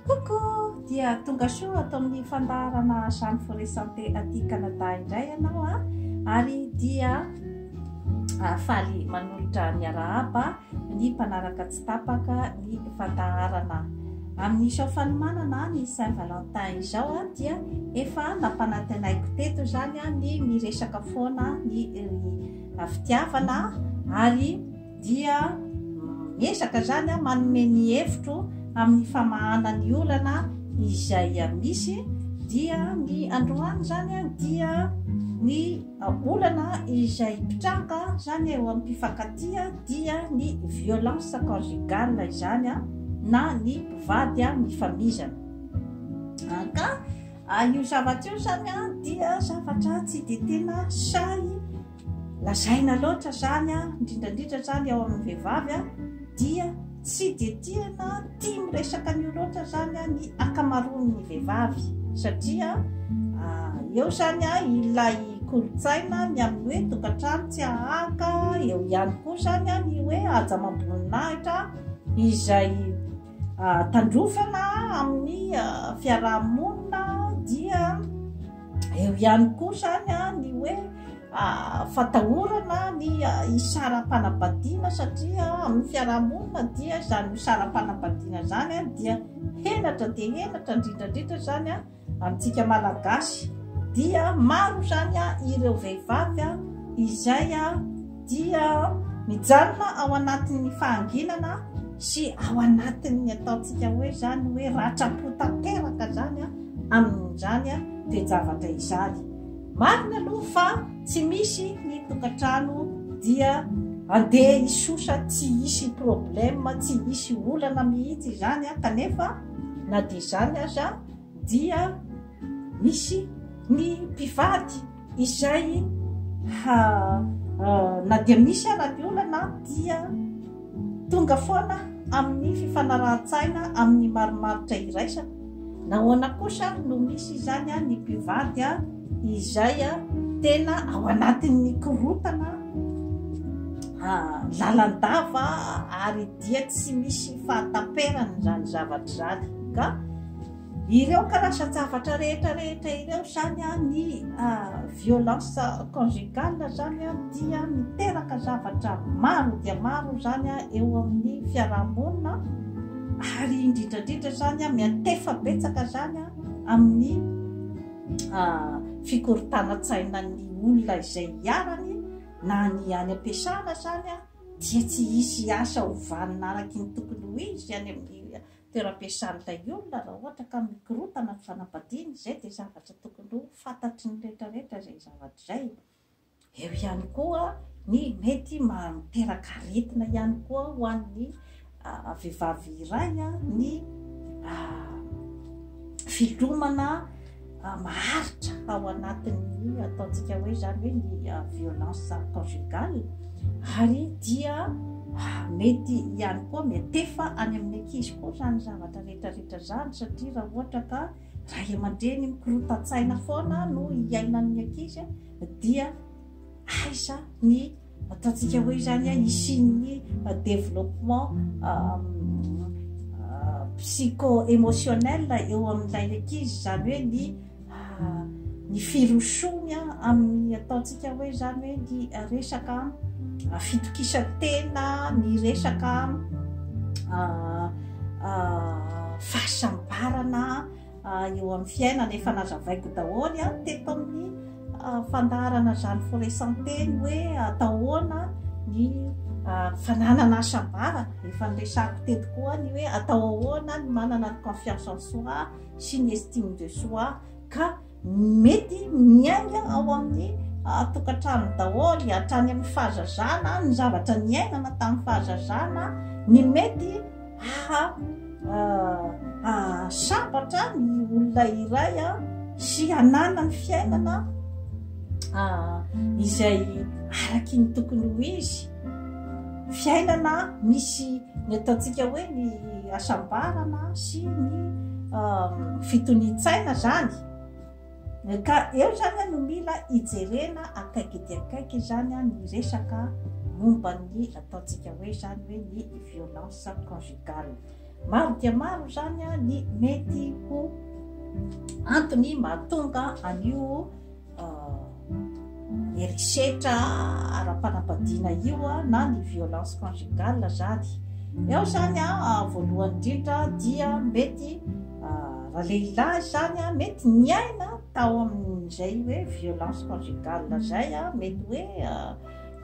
Coucou! Dia tonga soa ato amin'ny fandaharana Jeanne Forêt Santé aty Canada indray ianao a. Ary dia faly manolotra miarahaba ny mpanaraka tsy tapaka ny fandaharana. Amin'izao fanomanana ny Saint Valentin izao a dia efa nampanantenaiko teto izany a ny miresaka foana ny fitiavana ary dia miezaka izany manome ny hevitro amin'ny famahana ny olana izay misy, dia ny androany izany dia ny olana izay mpitranga izany eo amin'ny mpifankatia dia ny violence conjugale izany na ny mpivady mifamizana. Ka io zavatra io izany dia zavatra tsy dia tena sahy Lazaina loatra izany an, indrindra indrindra izany ao amin'ny vehivavy an, dia tsy dia tiana tia miresaka an'io loatra izany an ny ankamaroan'ny vehivavy satria eo izany an ilay kolontsaina ny amin'ny hoe tokantrano tsy ahaka, eo ihany koa izany an ny hoe haja amam-boninahitra izay tandrofana amin'ny fiaraha-monina dia. Eo ihany koa izany ny hoe fatahorana ny isaram-panambadiana satria amin'ny fiarahamonina dia izany isaram-panambadiana izany dia henatra dia henatra indrindrandrindra izany amintsika malagasy dia maro izany ireo vehivavy izay dia mijanona ao anatin'ny fahanginana sy ao anatin'ny ataontsika hoe izany hoe ratram-po tanteraka izany amin'izany toe-javatra izany. Marina aloha fa tsy misy ny tokantrano dia andeha hisosa tsy hisy problème, tsy hisy olana mihitsy izany kanefa na dia izany aza dia misy ny mpivady izay ha na dia misy ara ny olana dia tonga foana amin'ny fifanarahan-tsaina amin'ny marimaritra iraisana nahoana kosa no misy izany a ny mpivady a izay a tena ao anatin'ny korotana lalandava ary dia tsy misy fahataperany izany zavatra izany ka Ireo karazan-javatra rehetra rehetra ireo izany an, ny violence conjugale izany an, dia miteraka zavatra maro dia maro izany an, eo amin'ny fiaraha-monina ary indrindra indrindra izany an, miantefa betsaka izany an, amin'ny fikorontanan-tsainan'ny olona izay iharany na ny any am-piasana izany an, dia tsy hisy asa ho vanona araka ny tokony ho izy any amin'ny toeram-piasan'ny lay olona raha ohatra ka mikorontana ny fanambadiany, izay dia zavatra tokony ho fantatry ny rehetra rehetra izay zavatra izay. Eo ihany koa ny mety maha miteraka aretina ihany koa ho an'ny vehivavy iray ny filomana maharitra ao anatin'ny ataontsika hoe zany hoe ny violence conjugale ary dia mety ihany koa metefa any amin'ny ankizy koa zany zavatra rehetrarehetra zany satria raha ohatra ka raha aman-dreny mikorotan-tsaina foana no hiainan'ny ankizy dia aiza ny Ataontsika hoe izany an, hisian'ny développement psycho émotionnel eo amin'ilay ankizy, izany hoe ny ny firosoany amin'ny ataontsika hoe izany hoe ny resaka fitokisan-tena, ny resaka fahasambarana. eo amin'ny fiainana efa nazavaiko daholo a, teto amin'ny fandaharana Jeanne Forêt Santé ny hoe atao ahoana ny fananana asabara, efa niresahako teto koa ny hoe atao ahoana ny manana ny confiance en soi sy ny estime de soi ka mety miainga ao amin'ny tokantrano daholo hatrany amin'ny fahazazana ny zavatra niainana tamin'ny fahazazana ny mety ahasambatra ny olona iray a sy hanana ny fiainana izay araky ny tokony ho izy fiainana misy ny ataontsika hoe ny asambarana sy ny fitonian-tsaina zany Ka eo izany no mila hijerena akaiky dia akaiky izany ny resaka momba ny ataontsika hoe izany hoe ny violence conjugale. Maro dia maro izany ny mety ho antony mahatonga an'io herisetra ara-panambadiana io na ny violence conjugale zany eo zany a ah, voalohany indrindra dia mety ah, raha lehilahy zany a ah, mety niaina tao amin'izay hoe violence conjugale zay a mety hoe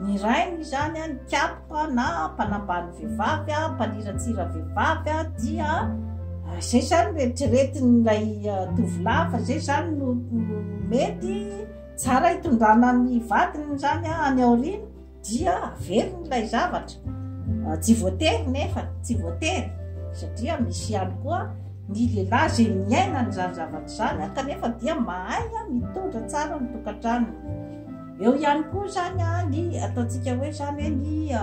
Ny rainy izany, ny kiapoka na mpanambany vehivavy, mpaniratsira vehivavy dia izay izany no eritreretin'ilay tovolahy fa izay izany no mety tsara hitondrana ny vadiny izany any aoriana dia averiny ilay zavatra. Tsy voatery nefa, tsy voatery satria misy ihany koa ny lehilahy izay miaina an'izany zavatra izany kanefa dia mahay mitondra tsara ny tokantranony. Eo ihany koa izany ny ataontsika hoe izany hoe ny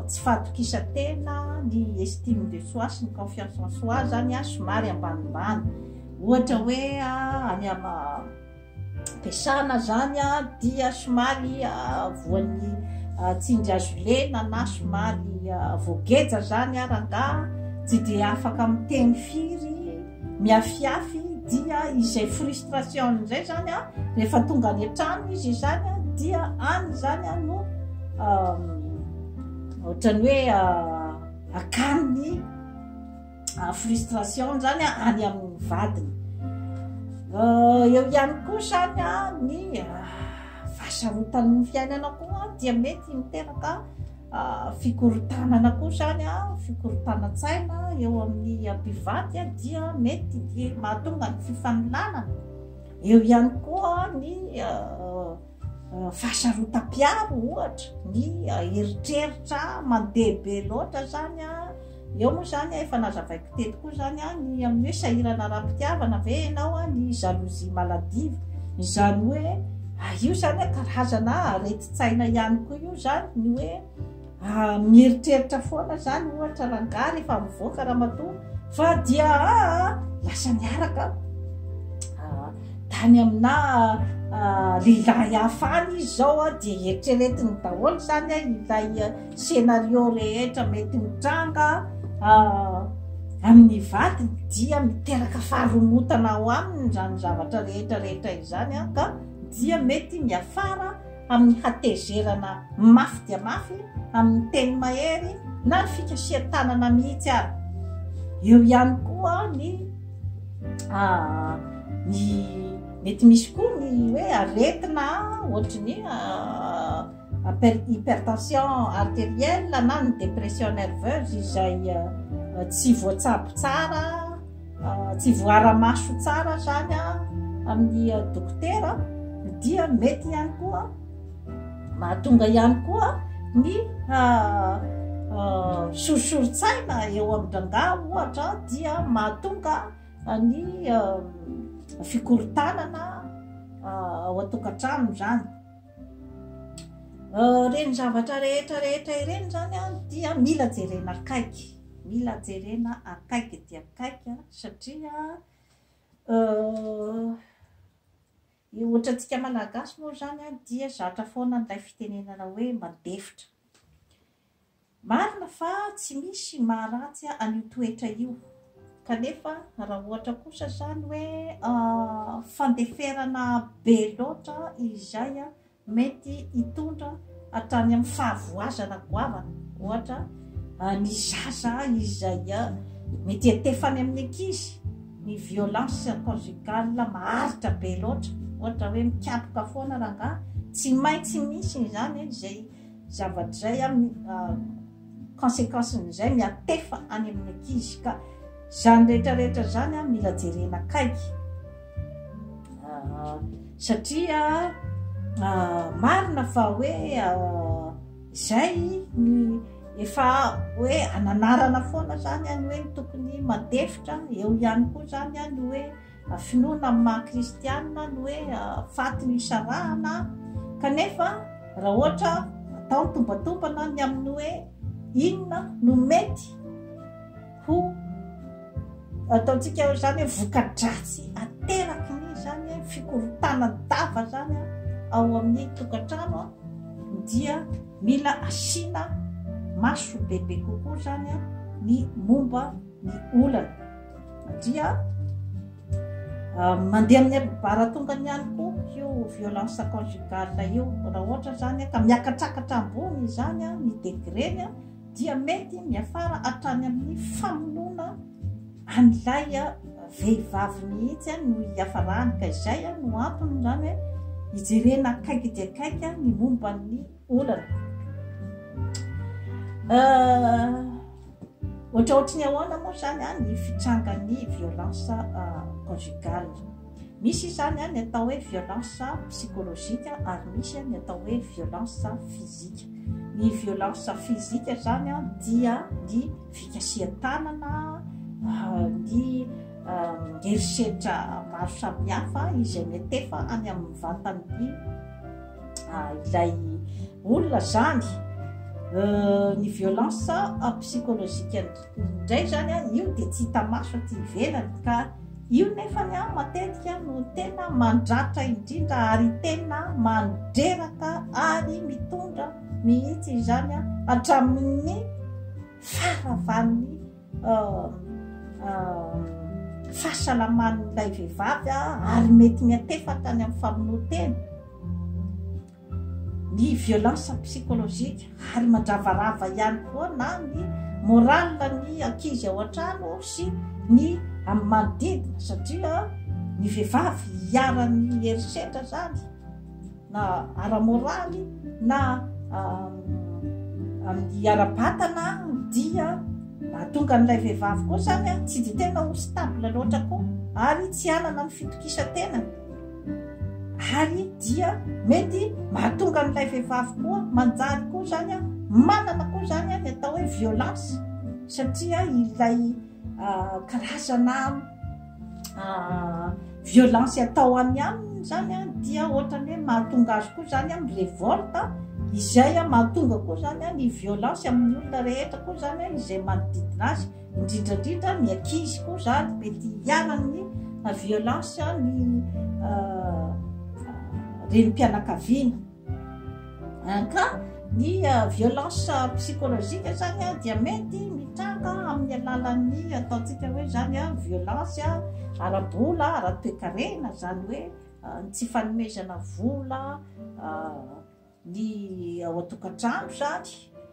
tsy fahatokisan-tena, ny estime de soi sy ny confiance en soi izany somary ambanimbany. Ohatra hoe any am-piasana izany dia somary voan'ny tsindry azo lena na somary voageja izany rangahy, tsy dia afaka miteny firy. miafiafy dia izay frustration izay zany a rehefa tonga any an-trano izy izany a dia any izany a no ohatrany hoe akaniny frustration zany a any amin'ny vadiny eo ihany koa zany a ny fahasarotan'ny fiainana koa dia mety miteraka fikorontanana koa izany a fikorontanan-tsaina eo amin'ny mpivady a dia mety dia mahatonga ny fifanolanana eo ihany koa ny fahasarotam-piaro ohatra ny eritreritra mandeha be loatra izany a Eo moa izany, efa nazavaiko teto koa izany, ny amin'ny hoe sahirana ara-pitiavana ve ianao, ny jalousie maladive. Izany hoe, io izany karazana aretin-tsaina ihany koa io izany, ny hoe mieritreritra foana izany ohatra rangahy rehefa mivoaka ramatoa fa dia lasa niaraka tany aminà lehilahy hafa any izy izao dia eritreretiny daholo izany ilay Scénario rehetra mety mitranga amin'ny vadiny dia miteraka faharomotana ao aminy izany zavatra rehetra rehetra izany ka dia mety miafara amin'ny hatezerana mafy dia mafy amin'ny teny mahery na ny fikasihan-tanana mihitsy ary eo ihany koa ny ny mety misy koa ny hoe aretina ohatry ny hypertension arterielle na ny dépression nerveuse izay tsy voatsabo tsara tsy voara-maso tsara zany amin'ny dokotera dia mety ihany koa mahatonga ihany koa ny sorisoritsaina eo amin-drangaha ohatra dia mahatonga ny fikorontanana ao an-tokantrano zany Ireny zavatra rehetra rehetra ireny izany dia mila jerena akaiky, mila jerena akaiky dia akaiky satria ny ohatra antsika Malagasy moa izany dia zatra foana ilay fitenenana hoe mandefitra. Marina fa tsy misy maharatsy an'io toetra io, kanefa raha ohatra kosa zany hoe fandeferana be loatra izay mety hitondra hatrany amin'ny fahavoazana goavana, ohatra ny zaza izay mety hiantefa any amin'ny ankizy ny violence conjugale maharitra be loatra, ohatra hoe mikapoka foana rangahy, tsy maintsy misy izany izay. Zavatra izay an, consequence-ny izay miantefa any amin'ny ankizy ka izany rehetra rehetra izany an mila jerena akaiky satria marina fa hoe izay ny efa hoe ananarana foana izany an hoe ny tokony mandefitra eo ihany koa izany an hoe Finoana amin'ny maha kristianina ny hoe faty no isarahana kanefa raha ohatra atao ny tombantombana ny amin'ny hoe inona no mety ho ataontsika izany hoe vokadratsy ateraky ny izany hoe fikorontanan-dava izany ao amin'ny tokantrano dia mila asiana maso bebe kokoa izany ny momba ny olana. dia ah, mandeha amin'ny baratongany ihany koa io violence conjugale io raha ohatra zany ka miakatsakatra ambony izany a ny degreny a dia mety miafara hatrany amin'ny famonoana an'ilay vehivavy mihitsy no hiafarany ka izay no antony zany hoe hijerena akaiky dia akaiky ny momban'ny olana ohatraohatry ny ahoana moa zany a ny fitsangan'ny violence conjugale misy izany a ny atao hoe violence psychologique ary misy a ny atao hoe violence physique ny violence physique zany a dia ny fikasihan-tanana ny herisetra maro samihafa izay mety efa any amin'ny vatan'ny ah, ilay olona zany euh, ny violence ah, psychologique indray zany a ah, io de tsy hita maso aty ivelany ka io nefa ny a matetika no tena mandratra indrindra ary tena mandreraka ary mitondra mihitsy izany a hatramin'ny faravan'ny fahasalaman'ilay vehivavy ary mety miantefaka any amin'ny famonoan-tena ny violence psychologique ary mandravarava ihany koa na ny morale ny ankizy ao an-trano sy ny amin'ny manodidina satria ny vehivavy hiaran'ny herisetra zany na ara-moraly na amin'ny ara-batana dia mahatonga an'ilay vehivavy koa zany a tsy dia tena ho stable loatra koa ary tsy hanana ny fitokisantena ary dia mety mahatonga an'ilay vehivavy koa manjary koa zany a manana koa zany a ny atao hoe violence satria ilay karazana violence atao any aminy zany a dia ohatrany hoe mahatonga azy koa zany am revolte izay a mahatonga koa zany a ny violence amin'ny olona rehetra koa zany a izay manodidina azy indrindrandrindra ny akizy koa zany mety hiaranny violence ny renim-pianakaviana Ka ny violence psychologique zany dia mety mitranga amin'ny alalan'ny ataontsika hoe zany violence ara-bola, ara-toekarena, zany hoe ny tsy fanomezana vola ny ao an-tokantrano zany.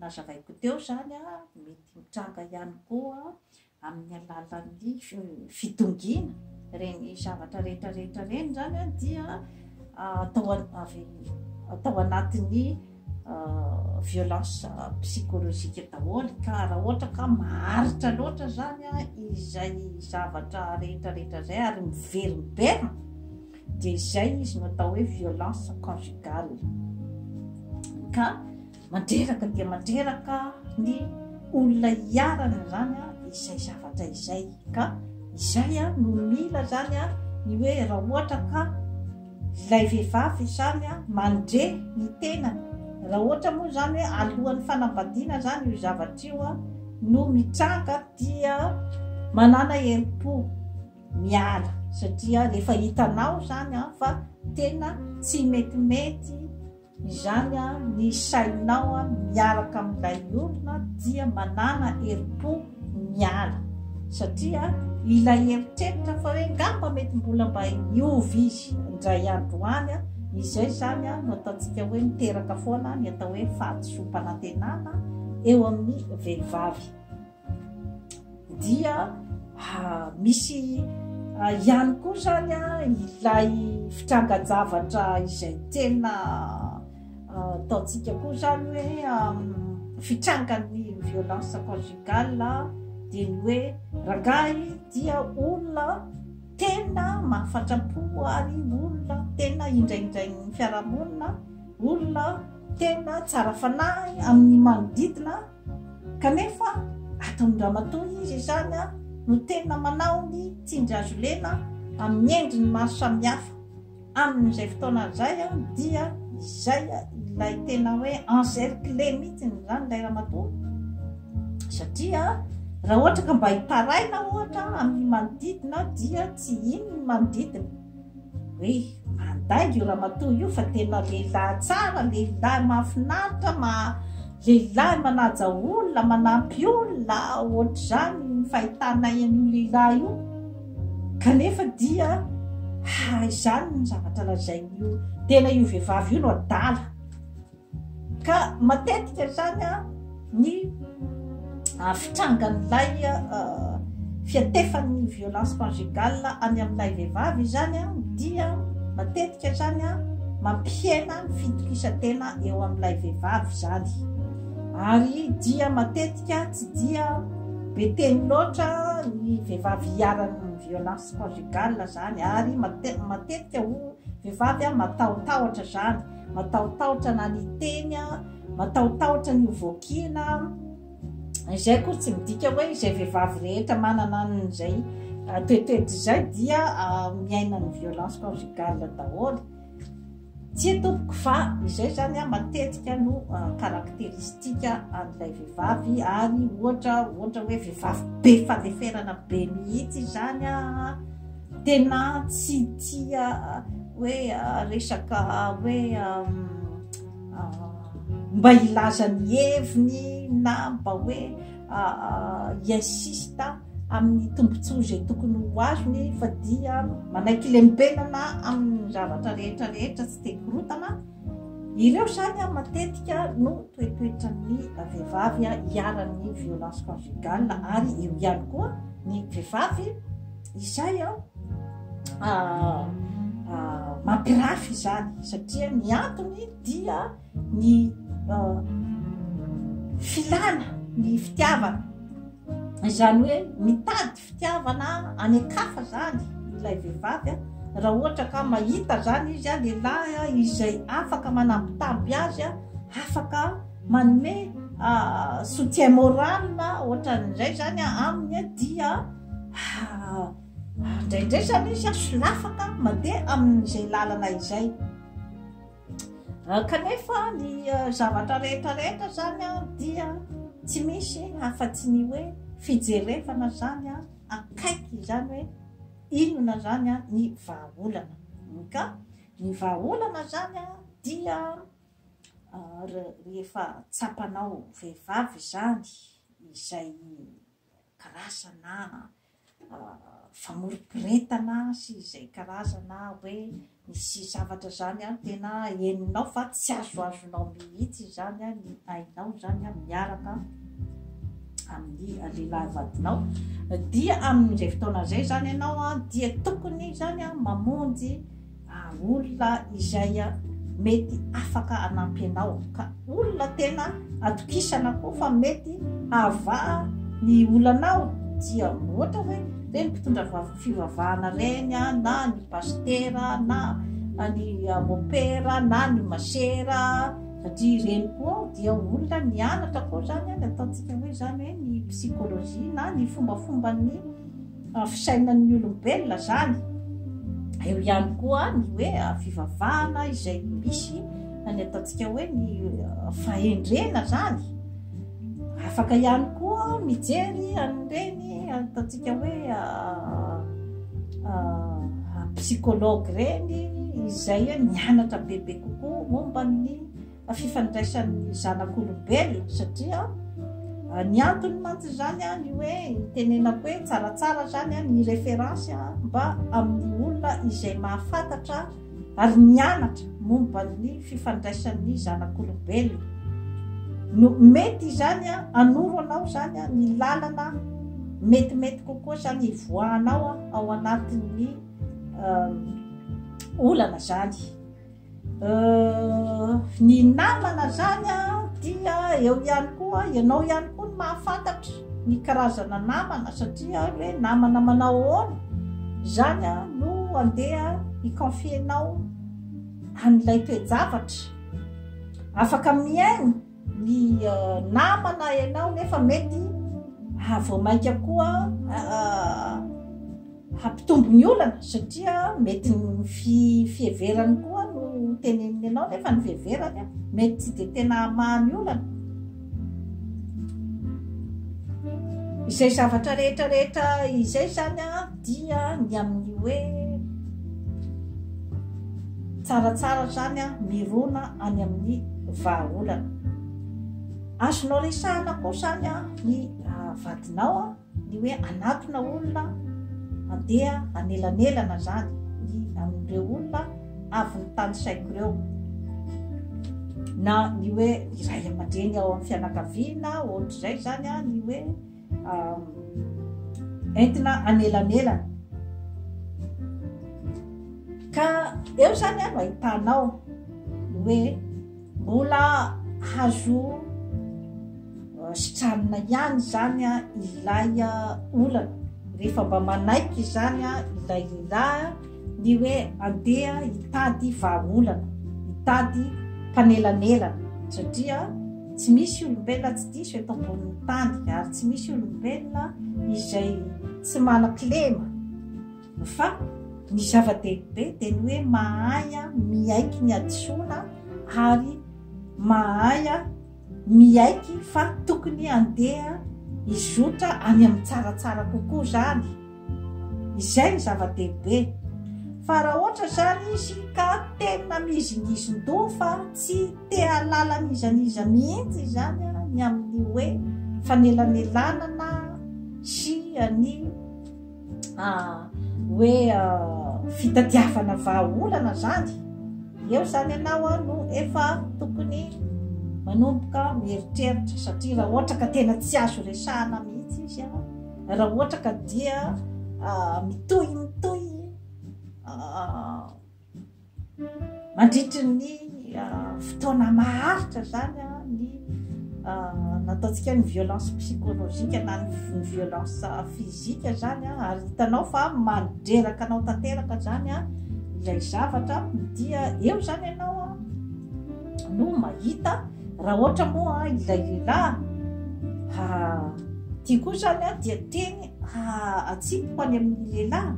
Nazavaiko teo izany, mety mitranga ihany koa amin'ny alalan'ny fidongiana. Ireny zavatra rehetra rehetra ireny izany dia atao avy atao anatin'ny violence psychologique daholo ka raha ohatra ka maharitra loatra izany izay zavatra rehetra rehetra izay ary miverimberina dia izay izy no atao hoe violence conjugale ka mandreraka dia mandreraka ny olona hiarana zany a izay zavatra izay ka izay a no mila zany a ny hoe raha ohatra ka ilay vehivavy zany a mandre ny tenany raha ohatra moa zany hoe alohan'ny fanambadiana zany io zavatra io a no mitranga dia manana herim-po miala satria rehefa hitanao zany an fa tena tsy metimety izany an ny sainao an miaraka amin'ilay olona dia manana herim-po miala satria ilay eritreritra fa hoe ngamba mety mbola mba hiova izy indray andro any an izay zany an no ataontsika hoe miteraka foana ny atao hoe fahadisoam-panantenana eo amin'ny vehivavy dia misy ihany koa zany a ilay fitrangan-javatra izay tena ataontsika koa zany hoe fitrangan'ny violence conjugale dia ny hoe rangahy dia olona tena mahafatra-po ary olona tena indraindrain'ny fiarahamonina olona tena tsara fanahy amin'ny manodidina Kanefa ataon'i ramatoa izy izany no tena manao ny tsindry azo lena amin'ny endriny maro samihafa. Amin'izay fotoana izay dia izay ilay tena hoe encerclé mihitsy izany ilay ramatoa satria raha ohatra ka mba hitaraina ohatra amin'ny manodidina dia tsy iny ny manodidina. Hoe andainga io ramatoa io fa tena lehilahy tsara, lehilahy mahafinaritra, lehilahy manaja olona, manampy olona, ohatr'izany ny fahitanay an'io lehilahy io, kanefa dia izany ny zavatra lazain'io, tena io vehivavy io no adala. Ka matetika izany ny fitrangan'ilay fiantefan'ny violence conjugale any amin'ilay vehivavy izany dia matetika izany mampihena ny fitokisantena eo amin'ilay vehivavy izany ary dia matetika tsy dia be teny loatra ny vehivavy hiaran'ny violence conjugale izany ary matetika ho vehivavy matahotahotra izany matahotahotra na ny teny a, matahotahotra ny ho voakiana a, izay akory tsy midika hoe izay vehivavy rehetra manana an'izay toetoetra izay dia miaina ny violence conjugale daholo. Tsy e tompoko fa izay zany a matetika no caractéristique an'ilay vehivavy ary ohatra ohatra hoe vehivavy be fandeferana be mihitsy izany a, Tena tsy tia hoe resaka hoe mba hilaza ny heviny na mba hoe hi-insiste amin'ny tombontsoa izay tokony ho azony fa dia manaiky lembenana amin'ny zavatra rehetra rehetra tsy dia korotana. Ireo izany matetika no toetoetran'ny vehivavy iharan'ny violence conjugale ary eo ihany koa ny vehivavy. Izay an, mampirafy izany satria ny antony dia ny filana ny fitiavana izany hoe mitady fitiavana any an-kafa zany ilay vehivavy a raha ohatra ka mahita zany izy a lehilahy a izay afaka manambitamby azy a afaka manome soutien moral ohatran'izay zany a aminy dia Ah, ary indraindray zany izy a solafaka mandeha amin'izay lalana izay ah, kanefa ny ah, zavatra rehetrarehetra zany a dia tsy misy afa-tsy ny hoe fijerevana zany a akaiky izany hoe inona zany a ny vahaolana ka ny vahaolana zany a dia ah, re- rehefa tsapanao vehivavy zany izay karazana famoriporitana sy izay karazana hoe misy zavatra zany any tena henonao fa tsy azoazonao mihitsy izany a ny ainao zany a miaraka amin'ny lehilahy vadinao dia amin'izay fotoana izay zany ianao a dia tokony zany a mamonjy ary olona izay mety afaka hanampy anao, ka olona tena atokisana koa fa mety hahavaha ny olanao, dia ohatra hoe le ny mpitondra fivavahana reny na ny pasitera na ny mopera na ny masera satria ireny koa dia olona nianatra koa zany ny ataontsika hoe zany hoe ny psychologie na ny fombafomban'ny Fa fisainan'ny olombelona zany. Eo ihany koa ny hoe fivavahana izay misy any ataontsika hoe ny fahendrena zany. Afaka ihany koa mijery an'ireny ataontsika hoe psychologue ireny izay mianatra bebe kokoa momba ny fifandraisan'ny zanak'olombelona satria ah, ny antony mantsy izany a ah, ny hoe tenenako hoe tsaratsara zany a ah, ny référence a mba amin'ny olona izay mahafantatra ary nianatra momba ny fifandraisan'ny zanak'olombelona no mety izany a anoro anao zany a ny lalana metimety kokoa zany ivoahanao a ao anatin'ny olana zany Euh, ny namana zany dia eo ihany koa ianao ihany koa ny mahafantatra ny karazana namana satria hoe namana manao ahoana zany a no andeha hiconfienao an'ilay toejavatra afaka mihaino ny namana ianao nefa mety vao mainka koa hampitombo ny olana satria mety ny fiheverany koa no teneniny ianao nefa ny fiheverany a mety tsy dia tena hamaha ny olana izay zavatra rehetrarehetra izay zany a dia ny amin'ny hoe tsaratsara zany a mirona any amin'ny vahaolana azonao resahana koa zany a ny ah, vadinao a ny hoe anatona olona andeha anelanelana zany ny amin'ireo olona avy ny tany saiko ireo na ny hoe iray aman-dreny ao amin'ny fianakaviana ohatr'izay zany a ny hoe entina anelanelana. Ka eo zany no ahitanao hoe mbola hazo sitranina ihany zany ilay olana rehefa mba manaiky izany ilay lehilahy Ny hoe andeha hitady vahaolana, hitady mpanelanelana, satria tsy misy olombelona tsy diso eto ambonin'ny tany ary tsy misy olombelona izay tsy manan-kilema fa ny zava-dehibe dia ny hoe mahay miaiky ny hadisoana ary mahay miaiky fa tokony andeha hizotra any amin'ny tsaratsara kokoa izany. Izay no zava-dehibe. Fa raha ohatra izany izy ka tena mizingizin-doha fa tsy te hahalala an'iza n'iza mihitsy izany ny amin'ny hoe fanelanelanana sy ny hoe fitadiavana vahaolana izany, eo izany ianao no efa tokony manomboka mieritreritra satria raha ohatra ka tena tsy azo resahana mihitsy izy. Raha ohatra ka dia mitohy mitohy mandritry ny fotoana maharitra zany ny nataontsika ny violence psychologique na ny violence physique zany ary hitanao fa mandreraka anao tanteraka zany ilay zavatra dia eo zany ianao no mahita raha ohatra moa ilay lehilahy ha tia koa zany a dia teny ha atsipoko any amin'ny lehilahy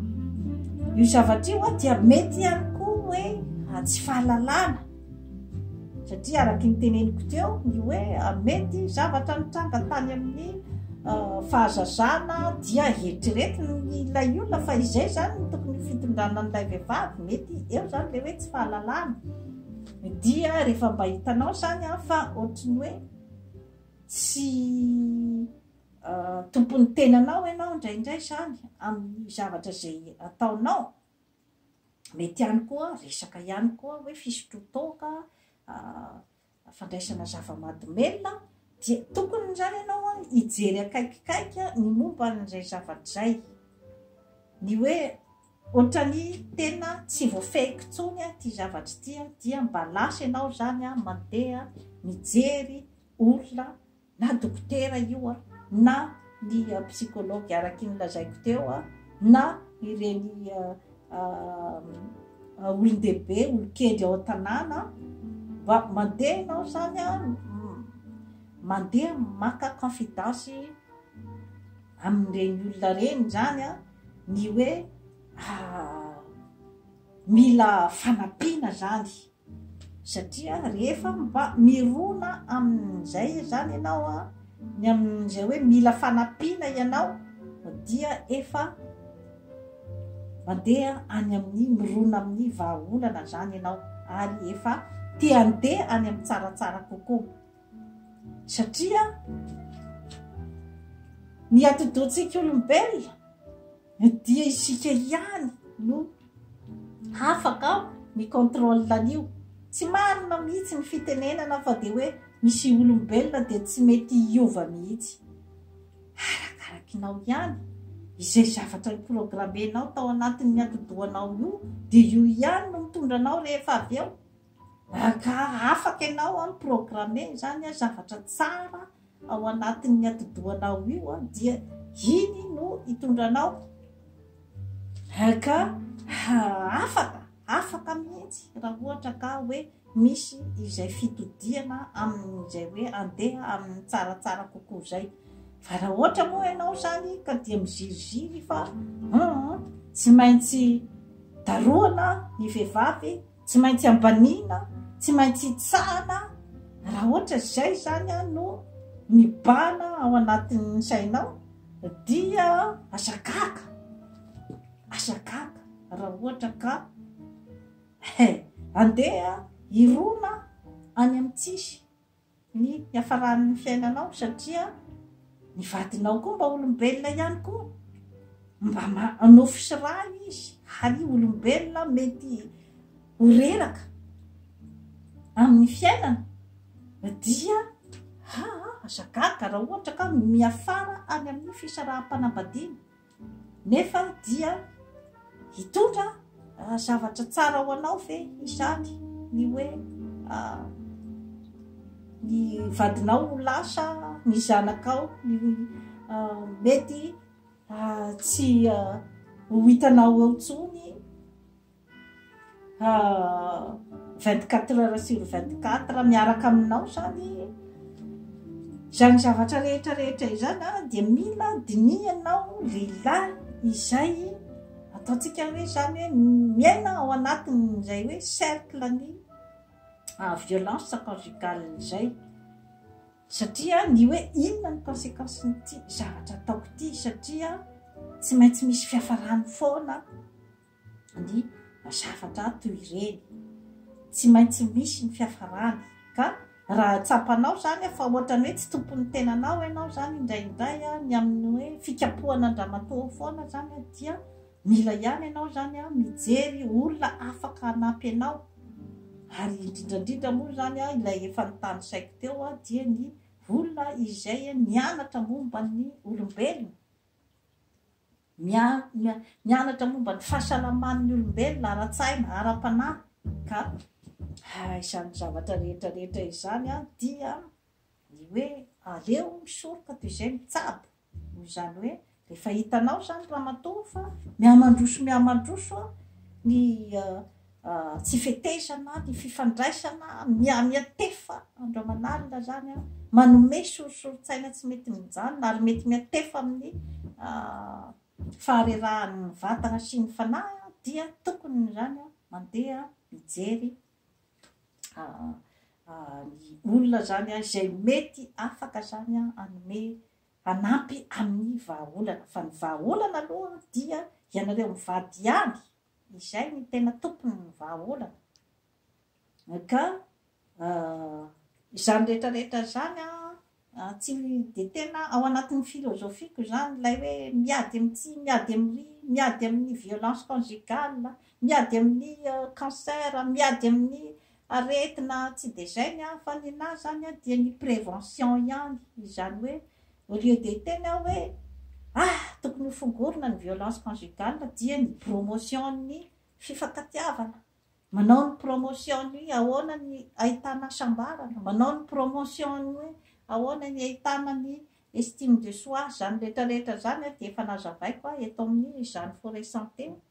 io zavatra io a dia mety ihany koa hoe tsy fahalalana satria araky ny teneniko teo ny hoe mety zavatra nitranga tany amin'ny euh, fahazazana dia eritreretiny ilay olona fa izay zany ny tokony fitondrana an'ilay vehivavy mety eo zany le hoe tsy fahalalana Dia rehefa mba hitanao izany an, fa ohatry ny hoe tsy tompon'ny tenanao ianao indraindray izany amin'ny zavatra izay ataonao. Mety ihany koa resaka ihany koa hoe fisotroan-toaka, fandraisana zava-mahadomelina, dia tokony izany ianao an hijery akaikikaiky ny momba an'izay zavatra izay. Ny hoe Otrany tena tsy voafehiko tsony ty zavatry ty a, dia mba lasa enao zany a mandeha mijery olona na dokotera io a na ny psychologue araky ny lazaiko teo a na ireny olondehibe olokendry ao an-tanàna mba mandeha enao zany a mandeha maka confidence amin'ireny olona reny zany a. ny hoe mila fanampiana zany satria rehefa mba mirona amin'izay zany ianao a ny amin'izay hoe mila fanampiana ianao dia efa mandeha any amin'ny mirona amin'ny vahaolana zany ianao ary efa te handeha any amin'ny tsaratsara kokoa Satria ny atidohantsika olombelona dia isika ihany no afaka ny contrôle an'io. Tsy marina mihitsy ny fitenenana fa dia hoe misy olombelona dia tsy mety hiova mihitsy. Arakarakinao ihany izay zavatra programmenao tao anatin'ny atidohanao io dia io ihany no mitondra anao rehefa avy eo. Angaha afaka ianao an mi-programmer izany an, zavatra tsara ao anatin'ny atidohanao io an, dia iny no hitondra anao. Angaha afaka, afaka mihitsy raha ohatra ka hoe misy izay fitodihana amin'izay hoe andeha amin'ny tsaratsara kokoa izay. Fa raha ohatra moa ianao izany ka dia miziriziry fa hum tsy maintsy darohana ny vehivavy Tsy maintsy ambaniana, tsy maintsy itsahana, raha ohatra izay izany no mibahana ao anatin'ny sainao dia aza gaga, aza gaga raha ohatra ka he, andeha hirona any amin'ny tsisy. ny hiafaran'ny fiainanao satria ny vadinao koa mba olombelona ihany koa mba manofy sy rà izy ary olombelona mety ho reraka amin'ny fiainana dia ha aza gaga raha ohatra ka miafara any amin'ny fisaraham-panambadiana Nefa dia hitondra zavatra tsara ho anao ve izany ny hoe ny vadinao ho lasa ny zanakao ny mety tsy ho hitanao eo tsony vingt quatre heures sur vingt quatre miaraka aminao zany izany zavatra rehetra rehetra izany a dia mila dinihanao lehilahy izay ataontsika hoe zany hoe miaina ao anatin' izay hoe cercle ny violence conjugale izay satria ny hoe inona ny conséquence n'ity zavatra ataoko ity satria tsy maintsy misy fiafarany foana ny zavatra toy ireny. Tsy maintsy misy ny fiafarany ka raha tsapanao izany fa ohatra ny hoe tsy tompon'ny tenanao ianao izany indraindray ny amin'ny hoe fikapohana an-dramatoa ao foana izany dia mila ihany ianao izany mijery olona afaka hanampy anao ary indrindra indrindra moa izany ilay efa notanisaiko teo dia ny olona izay nianatra momba ny olombelona. Mianatra momba ny fahasalaman'ny olombelona ara-tsaina, ara-panahy, ka izany zavatra rehetra rehetra izany dia ny hoe aleo misoroka toy izay mitsabo, noho izany hoe rehefa hitanao izany ramatoa fa mihamandroso mihamandroso ny Tsy fetezana ny fifandraisana mihamia tefa andro aman'alina izany manome sorisorin-tsaina tsy mety mijanona ary mety miha tefa amin'ny faharerahan'ny vatana sy ny fanahy dia tokony izany mandeha mijery ny olona izany an izay mety afaka izany an anome hanampy amin'ny vahaolana fa ny vahaolana aloha dia ianareo mivady ihany Izay no tena tompon' ny vahaolana. Ka izany rehetra rehetra izany an, tsy dia tena ao anatin' ny filôzôfiako izany ilay hoe miady amin' ny tsy miady amin' ny miady amin' ny violence conjugale, miady amin' ny cancer, miady amin' ny Aretina tsy dia zay ny ahy fa ny nahy zany a dia ny prévention ihany izany hoe au lieu de hiteny aho hoe ah tokony ho fongorina ny violence conjugale dia ny bromotion ny fifankatiavana manao ny promotion ny hoe ahoana ny ahitana hasambarana manao ny promotion ny hoe ahoana ny ahitana ny estime de soi zany retraretra zany a dia efa nazavaiko aho eto amin'ny izany forêt santé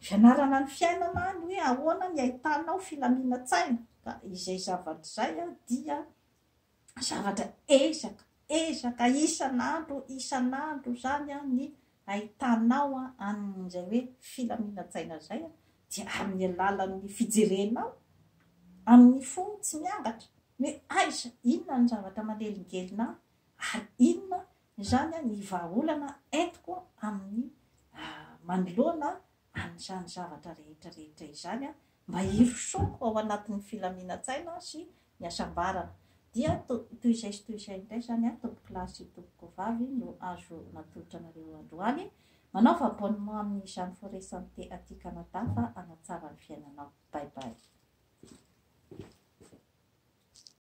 Fianarana ny fiainana ny hoe ahoana ny ahitanao filaminan-tsaina ka izay zavatra izay dia zavatra ezaka ezaka isan'andro isan'andro izany ny ahitanao an'izay hoe filaminan-tsaina izay dia amin'ny alalan'ny fijerenao amin'ny fo tsy miangatra ny hoe aiza inona ny zavatra manelingelina ahy ary inona Izany ny vahaolana entiko amin'ny manoloana an'izany zavatra rehetra rehetra izany mba hirosoako ao anatin'ny filaminan-tsaina sy ny hasambarana. Dia toy izay sy toy izay indray izany tompokolahy sy tompokovavy no azo natolotra anareo androany. Manaova abonnement amin'ny Jeanne Forêt Santé aty Canada fa hanatsara ny fiainanao. Bye bye.